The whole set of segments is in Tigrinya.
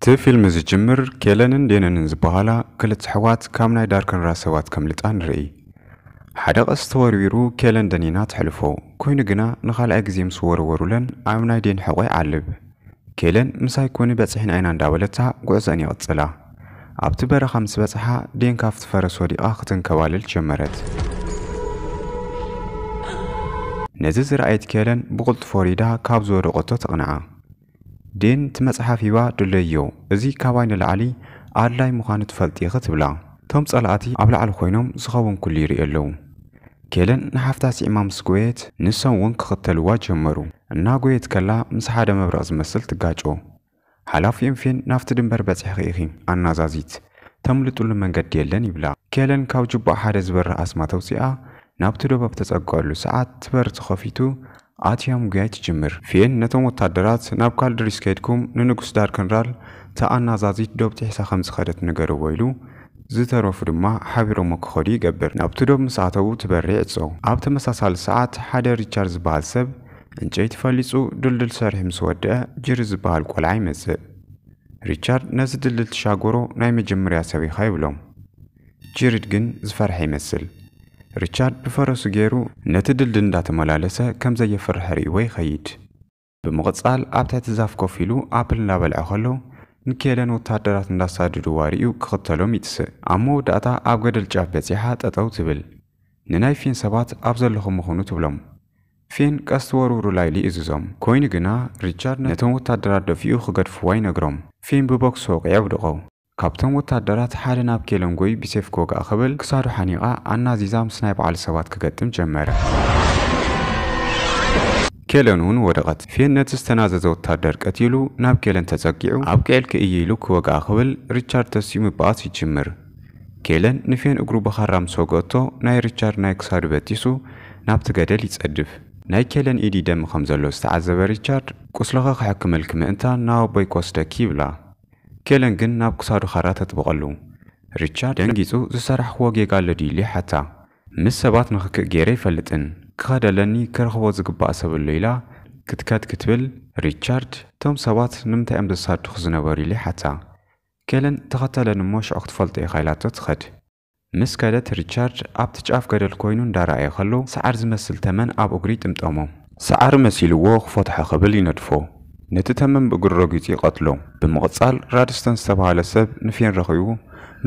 እቲ ፊልም ዝጅምር ኬለንን ዴነንን ዝበሃላ ክልተ ኣሕዋት ካብ ናይ ዳርክንራ ሰባት ከምልጣ ንርኢ። ሓደ ቀስት ተወርዊሩ ኬለን ደኒና ተሕልፎ። ኮይኑ ግና ንካልኣይ ግዜ ምስ ወረወሩለን ኣብ ናይ ዴን ሕቆ ይዓልብ። ኬለን ምሳይ ኩኒ በጺሕና ኢና እንዳበለታ ጉዕዘኣን ይቅጽላ። ኣብቲ በረኻ ምስ በጽሓ ዴን ካብቲ ፈረስ ወዲቃ ክትንከባለል ጀመረት። ነዚ ዝረኣየት ኬለን ብቅልጡፍ ወሪዳ ካብ ዝወደቀቶ ተቅንዓ። ዴን እቲ መጽሓፍ ሂባ ድለይዮ እዚ ካባይ ንላዕሊ ኣድላይ ምዃኑ ትፈልጢ ኢኺ ትብላ። እቶም ጸላእቲ ኣብ ላዕሊ ኮይኖም ዝኸውን ኩሉ ይርእዩ ኣለዉ። ኬለን ንሓፍታ ስዒማ ምስ ጎየት ንሶም ውን ክኽተልዋ ጀመሩ። እናጎየት ከላ ምስ ሓደ መብረቕ ዝመስል ትጋጮ። ሓላፊኦም ፌን ናብቲ ድንበር በጺሕኺ ኢኺ ኣናዛዚት፣ ተምልጥሉ መንገዲ የለን ይብላ። ኬለን ካብ ጁባኣ ሓደ ዝበርህ ኣስማት ኣውጺኣ ናብቲ ዶብ ኣብ ተጸግዐሉ ሰዓት እቲ በሪ ተኸፊቱ ኣትያ ምጉያይ ትጅምር። ፌን ነቶም ወታደራት፣ ናብ ካልድሪስ ከይድኩም ንንጉስ ዳርከንራል እታ ኣናዛዚት ዶብ ጢሒሳ ከም ዝኸደት ንገርዎ ኢሉ፣ ዝተረፉ ድማ ሓቢሮሞ ክኸዱ ይገብር። ናብቲ ዶብ ምስ ኣተዉ ትበሪ ይዕጾ። ኣብ ተመሳሳሊ ሰዓት ሓደ ሪቻርድ ዝበሃል ሰብ ዕንጨይቲ ፈሊጹ ድልድል ሰሪሑ ምስ ወድኣ ጅሪ ዝበሃል ቆልዓ ይመጽእ። ሪቻርድ ነዚ ድልድል ትሻገሮ ናይ መጀመርያ ሰብ ኢኻ ይብሎም። ጂሪድ ግን ዝፈርሐ ይመስል። ሪቻርድ ብፈረሱ ገይሩ ነቲ ድልድል እንዳተመላለሰ ከም ዘየፍርሐ ርእይዎ ይኸይድ። ብምቕጻል ኣብ ትሕቲ ዛፍ ኮፍ ኢሉ ኣፕል እንዳበልዐ ከሎ ንኬለን ወተሃደራት እንዳሳደድዋ ርእዩ ክኽተሎም ይትስእ። ኣብ መወዳእታ ኣብ ገደል ጫፍ በጺሓ ጠጠው ትብል። ንናይ ፌን ሰባት ኣብ ዘለኹሞ ኹኑ ትብሎም። ፌን ቀስቲ ወርውሩላይ ኢሉ ይእዝዞም። ኮይኑ ግና ሪቻርድ ነቶም ወተሃደራት ደፊኡ ክገድፍዋ ይነግሮም። ፌን ብቦክስ ወቂዑ የውድቖ። ካብቶም ወታደራት ሓደ ናብ ኬለንጎይ ብሴፍ ክወግኣ ክብል ክሳዱ ሓኒቓ ኣናዚዛ ምስ ናይ ባዕሉ ሰባት ክገጥም ጀመረ። ኬለን ውን ወደቐት። ፌን ነቲ ዝተናዘዘ ወታደር ቀቲሉ ናብ ኬለን ተጸጊዑ ኣብቂዕልኪ እየ ኢሉ ክወግኣ ክብል ሪቻርድ ተሲኡ ምብኣስ ይጅምር። ኬለን ንፌን እግሩ ብኻራ ምስ ወግኦቶ ናይ ሪቻርድ ናይ ክሳዱ በጢሱ ናብቲ ገደል ይጸድፍ። ናይ ኬለን ኢድ ይደሚ ከም ዘሎ ዝተዓዘበ ሪቻርድ ቁስልኺ ክሕክመልኪ ምእንታን ናብ ኣቦይ ክወስደኪ ይብላ። ኬለን ግን ናብ ክሳዱ ኻራ ተጥብቐሉ። ሪቻርድ ደንጊጹ ዝሰራሕክዎ ጌጋ ኣሎ ድዩ ኢሉ ይሓታ። ምስ ሰባት ንኽክእ ገይረ ኣይፈልጥን፣ ክኸድ ኣለኒ ክረኽቦ ዝግባእ ሰብ ኣሎ ኢላ ክትከድ ክትብል፣ ሪቻርድ እቶም ሰባት ንምንታይ እዮም ዘሳድዱ ዝነበሩ ኢሉ ይሓታ። ኬለን ተኸተለኒ እሞ ሽዑ ክትፈልጦ ኢኻ ኢላቶ ትኸድ። ምስ ከደት ሪቻርድ ኣብቲ ጫፍ ገደል ኮይኑ እንዳረኣየ ከሎ ሰዓር ዝመስል ተመን ኣብ እግሩ ይጥምጠሞ። ሰዓሪ መሲልዎ ክፎትሖ ክብል ይነድፎ። ነቲ ተመን ብእግሩ ረጊጹ ይቐትሎ። ብምቕጻል ራድስተን ዝተባህለ ሰብ ንፌን ረኺቡ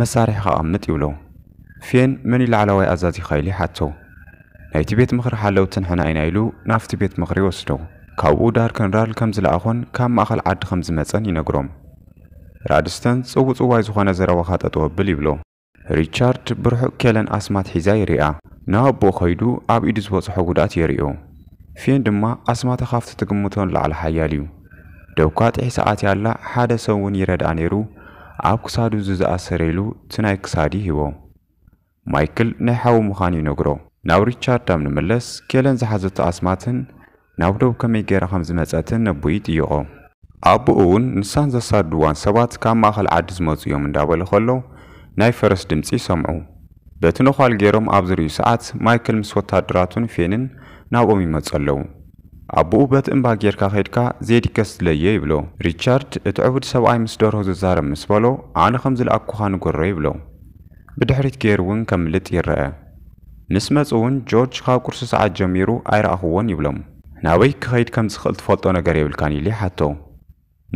መሳርሒኻ ኣቐምጥ ይብሎ። ፌን መን'ዩ ላዕላዋይ ኣዛዚኻ ኢሉ ይሓቶ። ናይቲ ቤት ምኽሪ ሓለውቲ ንሕና ኢና ኢሉ ናብቲ ቤት ምኽሪ ይወስዶ። ካብኡ ዳርከንራል ከም ዝለኣኾን ካብ ማእከል ዓዲ ከም ዝመጸን ይነግሮም። ራድስተን ጽውጽዋይ ዝኾነ ዘረባኻ ጠጠው ኣብል ይብሎ። ሪቻርድ ብርሑቕ ኬለን ኣስማት ሒዛ ይሪኣ። ንኣቦኡ ከይዱ ኣብ ኢዱ ዝበጽሖ ጉድኣት የሪኦ። ፌን ድማ ኣስማታ ካብቲ ትግምቶ ንላዕሊ ሓያል እዩ። ዶብካ ጥሒሳ ኣትያ ኣላ ሓደ ሰብ'ውን ይረድኣ ነይሩ ኣብ ክሳዱ እዚ ዝኣሰረ ኢሉ እቲ ናይ ክሳድ ይህቦ። ማይክል ናይ ሓዉ ምኻኑ ይነግሮ። ናብ ሪቻርድ ኣብ ንምለስ ኬለን ዝሓዘቶ ኣስማትን ናብ ዶብ ከመይ ጌራ ከም ዝመጸትን ነቦኡ ይጥይቖ። ኣቦኡ ውን ንሳን ዘሳድድዋን ሰባት ካብ ማእከል ዓዲ ዝመጹ እዮም እንዳበለ ከሎ ናይ ፈረስ ድምጺ ይሰምዑ። በቲ ነዃል ጌሮም ኣብ ዝርእዩ ሰዓት ማይክል ምስ ወታደራቱን ፌንን ናብኦም ይመጹ ኣለዉ። ኣቦኡ በቲ እምባ ጌርካ ከይድካ ዜዲከስ ድለዮ ይብሎ። ሪቻርድ እቲ ዕቡድ ሰብኣይ ምስ ደርሆ ዝዛረብ ምስ በሎ ኣነ ከም ዝለኣኩኻ ንገሮ ይብሎ። ብድሕሪት ገይሩ እውን ከምልጥ ይረኣ። ምስ መጹ እውን ጆርጅ ካብ ቁርሲ ሰዓት ጀሚሩ ኣይረኣኹዎን ይብሎም። ናበይ ክኸይድ ከም ዝኽእል ትፈልጦ ነገር የብልካን ኢሉ ይሓቶ።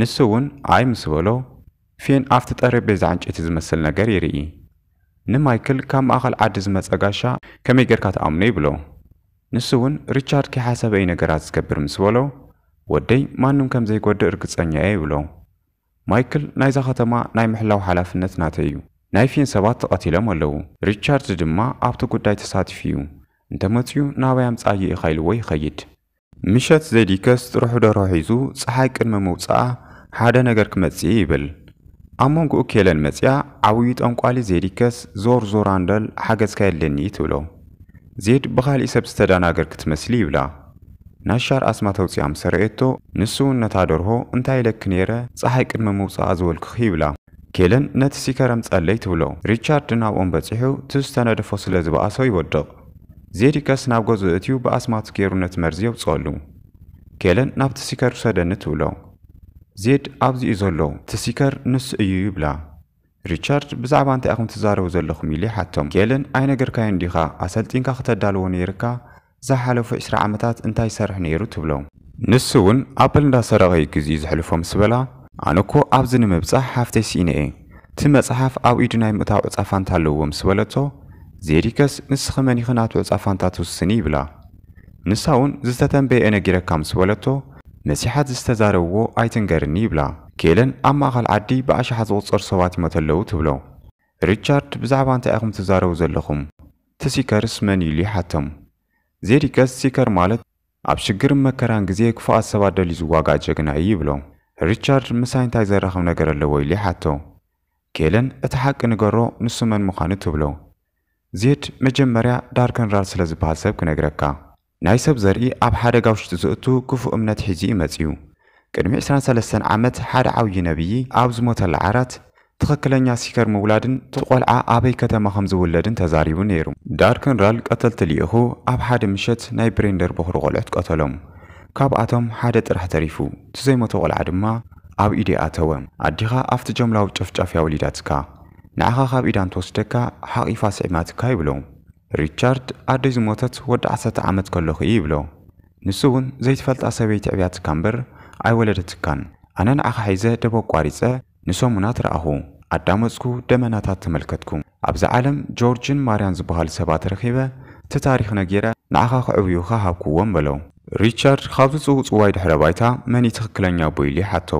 ንሱ እውን ኣይ ምስ በሎ፣ ፌን ኣብቲ ጠረጴዛ ዕንጨይቲ ዝመስል ነገር ይርኢ። ንማይክል ካብ ማእከል ዓዲ ዝመጸ ጋሻ ከመይ ገርካ ትኣምኖ ይብሎ። ንሱ እውን ሪቻርድ ከይሓሰበ እዩ ነገራት ዝገብር ምስ በሎ፣ ወደይ ማንም ከም ዘይጎድእ ርግጸኛ እየ ይብሎ። ማይክል ናይዛ ከተማ ናይ ምሕላው ሓላፍነት ናተይ እዩ። ናይ ፊን ሰባት ተቐቲሎም ኣለዉ። ሪቻርድ ድማ ኣብቲ ጉዳይ ተሳቲፉ እዩ። እንተ መጺኡ ናበይ ኣምጽኣዮ ኢኻ ኢልዎ ይኸይድ። ምሸት ዜዲከስ ጥርሑ ደርሆ ሒዙ ጸሓይ ቅድሚ ምውጽኣ ሓደ ነገር ክመጽእ'ዩ ይብል። ኣብ መንጎኡ ኬለን መጺኣ ዓብዩ ጠንቋሊ ዜዲከስ ዞር ዞር ኣንበል ሓገዝካ የድልየኒ እዩ ትብሎ። ዜድ ብኻሊእ ሰብ ዝተዳናገርኪ ትመስሊ ይብላ። ነሻር ኣስማት ኣውጺኣ ምስ ኣርኣየቶ፣ ንሱ'ውን ነታ ደርሆ፣ እንታይ ኢለኪ ነይረ፣ ጸሓይ ቅድሚ ምውጽኣ ዝበልኩኺ፣ ይብላ። ኬለን ነቲ ሲከረም ጸለይ ትብሎ። ሪቻርድ ናብኦም በጺሑ ትዝ ዝተነደፎ ስለ ዝበኣሶ ይወድቕ። ዜዲከስ ናብ ገዝኡ እእትዩ ብኣስማቱ ገይሩ ነቲ መርዚ የውጽኣሉ። ኬለን ናብቲ ሲከር ውሰደኒ ትብሎ። ዜድ ኣብዚ'ዩ ዘሎ፣ እቲ ሲከር ንሱ እዩ ይብላ። ሪቻርድ ብዛዕባ እንታይ ኢኹም ትዛረቡ ዘለኹም ኢሉ ይሓቶም። ኬለን ኣይነገርካዮን ዲኻ፣ ኣሰልጢንካ ክተዳልዎ ነይርካ፣ ዝሓለፉ ዕስራ ዓመታት እንታይ ይሰርሕ ነይሩ ትብሎ? ንሱ ውን ኣፕል እንዳሰረቐ ዩ ግዚኡ ዘሕልፎ ምስ በላ፣ ኣነ እኮ ኣብዚ ንምብጻሕ ሓፍተይ ስኢነ እየ፣ እቲ መጽሓፍ ኣብ ኢዱ ናይ ምእታው ዕጻ ፋንታ ኣለዎ ምስ በለቶ፣ ዜዲከስ ንስኺ መን ኢኺ ናቱ ዕጻ ፋንታ ትውስኒ ይብላ። ንሳ ውን ዝተተንበየ እየ ነጊረካ ምስ በለቶ፣ መሲሓት ዝተዛረብዎ ኣይትንገርኒ ይብላ። ኬለን ኣብ ማእኸል ዓዲ ብኣሽሓት ዝቑጸሩ ሰባት ይሞተለዉ ትብሎ። ሪቻርድ ብዛዕባ እንታይ ኢኹም ትዛረቡ ዘለኹም? እቲ ሲከርስ መን እዩ ኢሉ ይሓቶም። ዜዲ ገጽ ሲከር ማለት ኣብ ሽግርን መከራን ግዜ ክፉኣት ሰባት ደልዩ ዝዋጋእ ጀግና እዩ ይብሎ። ሪቻርድ ምሳይ እንታይ ዘራኽብ ነገር ኣለዎ ኢሉ ይሓቶ። ኬለን እቲ ሓቂ ንገሮ ንሱ መን ምዃኑ ትብሎ። ዜድ መጀመርያ ዳርክንራል ስለ ዝበሃል ሰብ ክነግረካ። ናይ ሰብ ዘርኢ ኣብ ሓደጋ ውሽጢ ዘእቱ ክፉእ እምነት ሒዙ እዩ መጺኡ። ቅድሚ ዕስራን ሰለስተን ዓመት ሓደ ዓውዪ ነብዪ ኣብ ዝሞተላ ዓራት፣ ትኽክለኛ ሲከር ምውላድን እቲ ቆልዓ ኣበይ ከተማ ከም ዝውለድን ተዛሪቡ ነይሩ። ዳርክንራል ቀተልቲ ልኢኹ ኣብ ሓደ ምሸት ናይ ብሬንደር ቦኽሪ ቆልዑት ቀተሎም። ካብኣቶም ሓደ ጥራሕ ተሪፉ፣ እቲ ዘይሞተ ቆልዓ ድማ ኣብ ኢደይ ኣተወ። ኣዴኻ ኣብቲ ጀምላዊ ጨፍጫፍ እያ ወሊዳትካ። ንዓኻ ካብ ኢዳ እንትወስደካ ሓቒፋ ስዒማትካ ይብሎ። ሪቻርድ ኣደይ ዝሞተት ወዲ ዓሰርተ ዓመት ከለኹ እዩ ይብሎ። ንሱ እውን ዘይትፈልጣ ሰበይቲ ኣዕብያትካ እምበር ኣይወለደትካን። ኣነ ንዓኻ ሒዘ ደብ ኣቋሪጸ ንሰሙናት ረኣኹ። ኣዳመጽኩ፣ ደመናታት ተመልከትኩ። ኣብዛ ዓለም ጆርጅን ማርያን ዝበሃሉ ሰባት ረኺበ እቲ ታሪኽ ነጊረ ንዓኻ ከዕብዩኻ ሃብኩዎም በሎ። ሪቻርድ ካብዚ ጽውጽዋይ ድሕረ ባይታ መን እዩ ትኽክለኛ ኣቦይ ኢሉ ይሓቶ።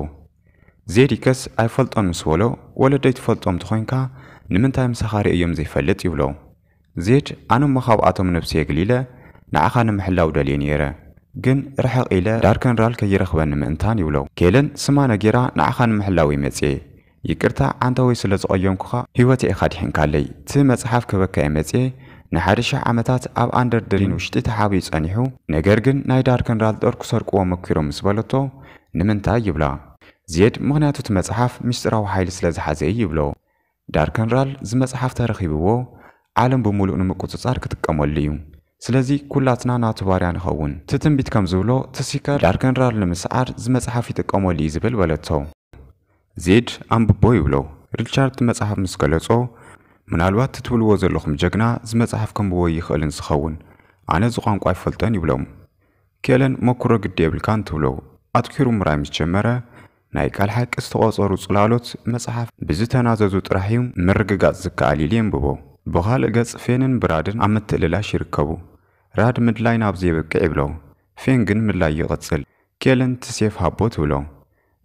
ዜዲከስ ኣይፈልጦን ምስ በሎ ወለደይ ትፈልጦም እንተኾይንካ ንምንታይ ምሳኻ ርእየዮም ዘይፈልጥ ይብሎ። ዜድ ኣነ'ሞ ካብኣቶም ነብሲ የግሊለ ንዓኻ ንምሕላው ደልየ ነይረ ግን ርሕቕ ኢለ ዳርከንራል ከይረኽበኒ ምእንታን ይብሎ። ኬለን ስማ ነጊራ ንዓኻ ንምሕላው'የ መጽየ ይቅርታ ዓንተወይ ስለ ዝቐየምኩኻ ህይወተይ ኢኻ ኣድሒንካለይ እቲ መጽሓፍ ከበካ'የ መጽየ ንሓደ ሽሕ ዓመታት ኣብ ኣንደር ድሪን ውሽጢ ተሓቢኡ ጸኒሑ ነገር ግን ናይ ዳርከንራል ጦር ክሰርቅዎ መኪሮም ምስ በለቶ ንምንታይ ይብላ ዜድ ምኽንያቱ እቲ መጽሓፍ ምስጢራዊ ሓይሊ ስለ ዝሓዘ እዩ ይብሎ ዳርከንራል እዚ መጽሓፍ ተረኪብዎ ዓለም ብሙሉእ ንምቁጽጻር ክጥቀመሉ እዩ ስለዚ ኩላትና ናቱ ባርያ ንኸውን እቲ ትንቢት ከም ዝብሎ እቲ ሲከር ዳርከንራል ንምስዓር እዚ መጽሓፍ ይጥቀመሉ እዩ ዝብል በለቶ ዜድ ኣንብቦ ይብሎ ሪቻርድ እቲ መጽሓፍ ምስ ገለጾ ምናልባት እቲ ትብልዎ ዘለኹም ጀግና እዚ መጽሓፍ ከንብቦ ኣይኽእልን ዝኸውን ኣነ እዚ ቋንቋ ኣይፈልጦን ይብሎም ኬለን ሞኩሮ ግዲ የብልካን ትብሎ ኣትኲሩ ምርኣይ ምስ ጀመረ፣ ናይ ቃል ሓቂ ዝተቖጸሩ ጽላሎት መጽሓፍ ብዝተናዘዙ ጥራሕ እዩ ምርግጋጽ ዝከኣል ኢሉ የንብቦ። ብኻልእ ገጽ ፌንን ብራድን ኣብ ምትእልላሽ ይርከቡ። ራድ ምድላይ ናብ ዘይበቅዕ ይብሎ፣ ፌን ግን ምድላዩ ይቕጽል። ኬለን እቲ ሴፍ ሃቦ ትብሎ።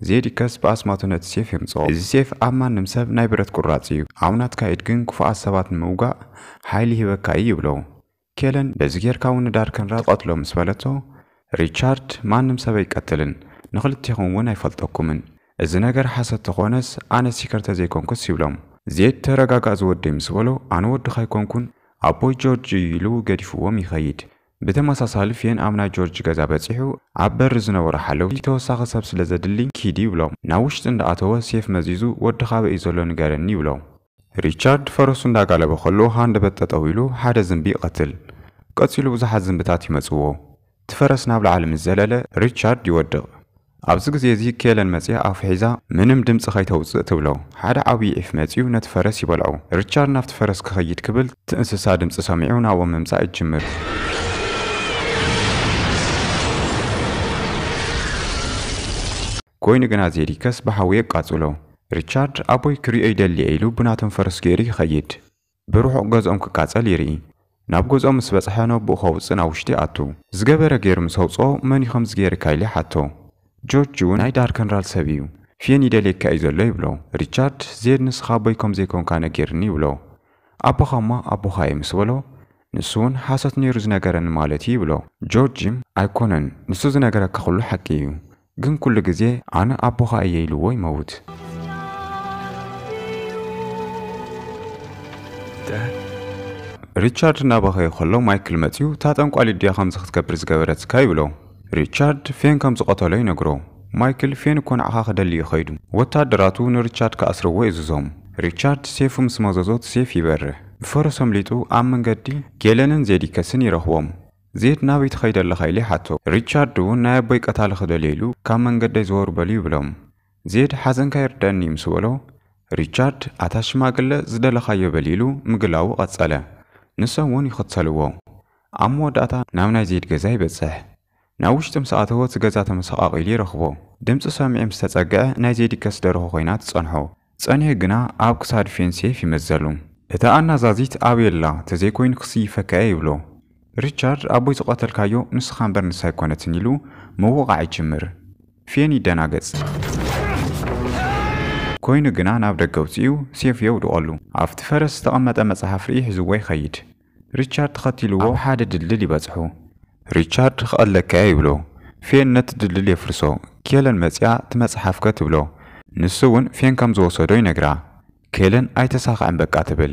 ዜዲከስ ብኣስማቱ ነቲ ሴፍ የምጽኦ። እዚ ሴፍ ኣብ ማንም ሰብ ናይ ብረት ቁራጽ እዩ፣ ኣብ ናትካ ኢድ ግን ክፉኣት ሰባት ንምውጋእ ሓይሊ ይህበካ እዩ ይብሎ። ኬለን በዚ ጌርካ ውን ንዳርክንራ ትቐትሎ ምስ በለቶ፣ ሪቻርድ ማንም ሰብ ኣይቀትልን፣ ንኽልቴኹም ውን ኣይፈልጠኩምን፣ እዚ ነገር ሓሶት ተኾነስ ኣነ ሲከር ተዘይኮንኩስ ይብሎም። ዜድ ተረጋጋእ ዝወደይ ምስ በሎ፣ ኣነ ወድኻ ኣይኮንኩን ኣቦይ ጆርጅ እዩ ኢሉ ገዲፍዎም ይኸይድ። ብተመሳሳሊ ፌን ኣብ ናይ ጆርጅ ገዛ በጺሑ ኣብ በሪ ዝነበሩ ሓለውቲ ተወሳኺ ሰብ ስለዘድሊ ኪድ ይብሎም። ናብ ውሽጢ እንዳኣተወ ሴፍ መዚዙ ወድኻ ኣበይ እዩ ዘሎ ንገረኒ ይብሎም። ሪቻርድ ፈረሱ እንዳጋለበ ከሎ ሃንደበት ጠጠው ኢሉ ሓደ ዝንቢ ይቐትል። ቀጺሉ ብዙሓት ዝንብታት ይመጽዎ። እቲ ፈረስ ናብ ላዕሊ ምስ ዘለለ ሪቻርድ ይወድቕ። ኣብዚ ግዜ እዚ ኬለን መጺኣ ኣፉ ሒዛ ምንም ድምጺ ከይተውጽእ ትብሎ። ሓደ ዓብዪ ዒፍ መጺኡ ነቲ ፈረስ ይበልዖ። ሪቻርድ ናብቲ ፈረስ ክኸይድ ክብል እቲ እንስሳ ድምጺ ሰሚዑ ናብኦም ምምጻእ ይጅምር። ኮይኑ ግና ዜዲከስ ብሓዊ የቃጽሎ። ሪቻርድ፣ ኣቦይ ክርእዮ ይደሊ'የ ኢሉ ብናቶም ፈረስ ገይሩ ይኸይድ። ብርሑቕ ገዝኦም ክቃጸል ይርኢ። ናብ ገዝኦም ምስ በጽሐ ነቦኡ ከውጽእ ናብ ውሽጢ ይኣቱ። ዝገበረ ገይሩ ምስ ኣውጽኦ መን'ዩ ከምዚ ገይርካ ኢሉ ይሓቶ። ጆርጅ'ውን ናይ ዳርከንራል ሰብ'ዩ። ፊየን ይደልየካ'ዩ ዘሎ ይብሎ። ሪቻርድ፣ ዜድ ንስኻ ኣቦይ ከም ዘይኮንካ ነጊርኒ ይብሎ። ኣቦኻ'ሞ ኣቦኻ'የ ምስ በሎ፣ ንሱ'ውን ሓሶት ነይሩ ዝነገረኒ ማለት'ዩ ይብሎ። ጆርጅ፣ ኣይኮነን ንሱ ዝነገረካ ኩሉ ሓቂ'ዩ። ግን ኩሉ ግዜ ኣነ ኣቦኻ እየ ኢልዎ ይመውት። ሪቻርድ እናበኸየ ከሎ ማይክል መጺኡ እታ ጠንቋሊት ድያ ከምዚ ክትገብር ዝገበረትካ ይብሎ። ሪቻርድ ፌን ከም ዝቐተሎ ይነግሮ። ማይክል ፌን እኮ ንዓኻ ክደሊ እዩ ከይዱ። ወተሃደራቱ ንሪቻርድ ክኣስርዎ የእዝዞም። ሪቻርድ ሴፉ ምስ መዘዞ እቲ ሴፍ ይበርህ። ብፈረስ ኣምሊጡ ኣብ መንገዲ ጌለንን ዜዲከስን ይረኽቦም። ዜድ ናበይ ትኸይድ ኣለኻ ኢሉ ይሓቶ። ሪቻርድ እውን ናይ ኣቦይ ቀታሊ ክደልዮ ኢሉ ካብ መንገደይ ዘወር በሉ ይብሎም። ዜድ ሓዘንካ ይርደኣኒ ምስ በሎ ሪቻርድ ኣታ ሽማግለ ዝደለኻዮ በል ኢሉ ምግላዉ ቀጸለ። ንሶም እውን ይኽተልዎ። ኣብ መወዳእታ ናብ ናይ ዜድ ገዛ ይበጽሕ። ናብ ውሽጢ ምስ ኣተወ እቲ ገዛ ተመሰቓቒሉ ይረኽቦ። ድምጺ ሰሚዑ ምስ ተጸግዐ ናይ ዜድ ይከስ ደርሆ ኮይና ትጸንሖ። ጸኒሑ ግና ኣብ ክሳድ ፌን ሴፍ ይመዘሉ። እታ ኣናዛዚት ኣበይ ኣላ ተዘይኮይኑ ክስይፈካ'የ ይብሎ። ሪቻርድ ኣቦይ ዝቐተልካዮ ንስኻ እምበር ንሳ ኣይኮነትን ኢሉ ምውቓዕ ይጅምር። ፌን ይደናገጽ። ኮይኑ ግና ናብ ደገ ኣውጺኡ ሴፉ የውድቐሉ። ኣብቲ ፈረስ ዝተቐመጠ መጽሓፍ ርእዩ ሒዝዎ ይኸይድ። ሪቻርድ ተኸቲልዎ ኣብ ሓደ ድልድል ይበጽሑ። ሪቻርድ ክቐትለካ'የ ይብሎ። ፌን ነቲ ድልድል የፍርሶ። ኬለን መጺኣ እቲ መጽሓፍ'ከ ትብሎ። ንሱ'ውን ፌን ከም ዝወሰዶ ይነግራ። ኬለን ኣይተሳኽዐን በቃ ትብል።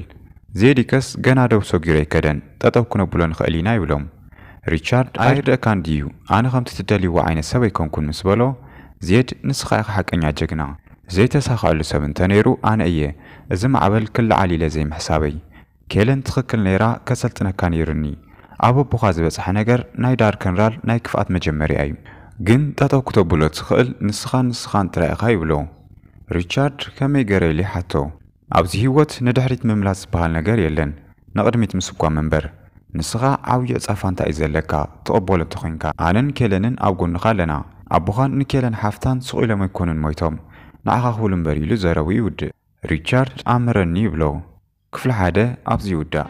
ዜዲከስ ገና ዶብ ሰጊሩ ኣይከደን፣ ጠጠው ክነብሎ ንኽእል ኢና ይብሎም። ሪቻርድ ኣይርደእካን ድዩ ኣነ ከምቲ ትደልይዎ ዓይነት ሰብ ኣይኮንኩን ምስ በሎ፣ ዜድ ንስኻ ኢኻ ሓቀኛ ጀግና። ዘይተሳኽዐሉ ሰብ እንተነይሩ ኣነ እየ፣ እዚ ማዕበል ክለዓል ኢለ ዘይምሕሳበይ። ኬለን ትኽክል ነይራ ከሰልጥነካ ነይሩኒ ኣብ ኣቦኻ ዝበጽሐ ነገር ናይ ዳርከንራል ናይ ክፍኣት መጀመርያ እዩ ግን ጠጠው ክተብሎ ትኽእል ንስኻን ንስኻን ጥራይ ኢኻ ይብሎ ሪቻርድ ከመይ ገረ ኢሉ ይሓቶ ኣብዚ ሂወት ንድሕሪት ምምላስ ዝበሃል ነገር የለን ንቕድሚት ምስጓም እምበር ንስኻ ዓብዩ ዕጻ ፋንታ እዩ ዘለካ ትቕበሎ እንተኾይንካ ኣነን ኬለንን ኣብ ጎንኻ ኣለና ኣቦኻን ንኬለን ሓፍታን ሱቕ ኢሎም ኣይኮኑን ሞይቶም ንዓኻ ክብሉ እምበር ኢሉ ዘረብኡ ይውድእ ሪቻርድ ኣምህረኒ ይብሎ ክፍሊ ሓደ ኣብዚ ይውዳእ።